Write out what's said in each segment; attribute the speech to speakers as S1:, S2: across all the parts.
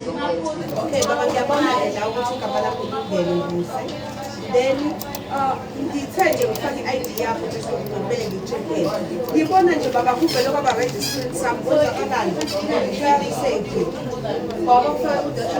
S1: Okay, baba ngiyabona la ukuthi igama lakho kubheke ukuze. Then uh, ngithe nje ngifake i-ID yakho nje ngibele ngitshekele. Ngibona nje baba kuvele kwaba registered sami konzakalani. Ngiyali safety. Baba ufake u-data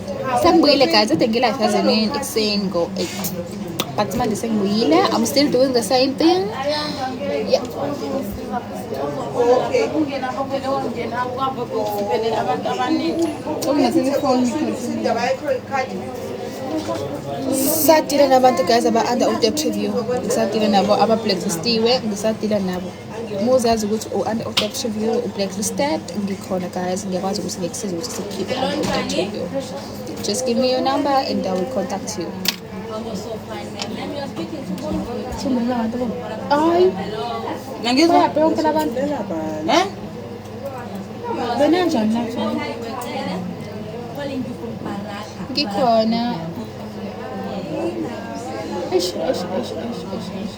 S2: Sengibuyile guys, ade ngilife yaze nini ekuseni ngo 8. But manje sengibuyile, I'm still doing the same thing. Yeah. Ngisatile nabantu guys aba under u-debt review, ngisatile nabo aba-blacklist-iwe, ngisatile nabo. Muzi yazi ukuthi u-under of debt review u-blacklisted ngikhona guys ngiyakwazi ukuthi ngikusize ukuthi sikhiphe under of debt review just give me your number and i will contact you hayi nangizwa yaphi yonke labantu eh benanjani lapho ngikhona eish eish eish eish eish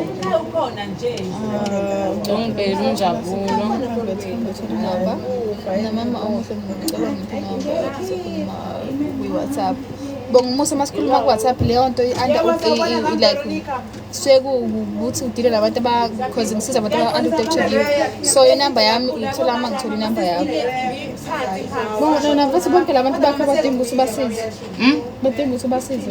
S3: Umkhaya ukhona nje. Tongbel unjabulo. Naba
S2: namama omuhle ngicela ngiphinga kwi-WhatsApp. Bongumusa masikhuluma ku-WhatsApp leyo nto i-under like sekuwukuthi udile nabantu because ngisiza abantu aba-unprotective so inamba yami uyithola uma ngithola inamba yakho bona mfethu bonke la bantu bakho badinga ukuthi ubasize hmm? badinga ukuthi ubasize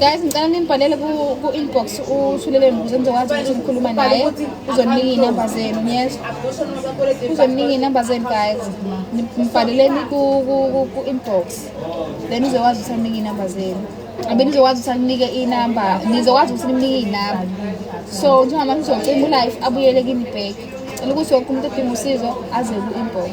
S3: guys
S2: ngicela nimbhalele ku-inbox uthuleleni ukuze nizokwazi ukuthi nikhuluma naye uzoninika iy'namba zenu yes uzoninika iy'namba zenu guys mbhaleleni ku-inbox then nizokwazi ukuthi aninike iy'namba zenu abe nizokwazi ukuthi aninike iy'namba nizokwazi ukuthi nimnike iy'namba so njengamanje uzocima ulife abuyele kimi bheki cela ukuthi wonke umuntu odinga usizo aze ku-inbox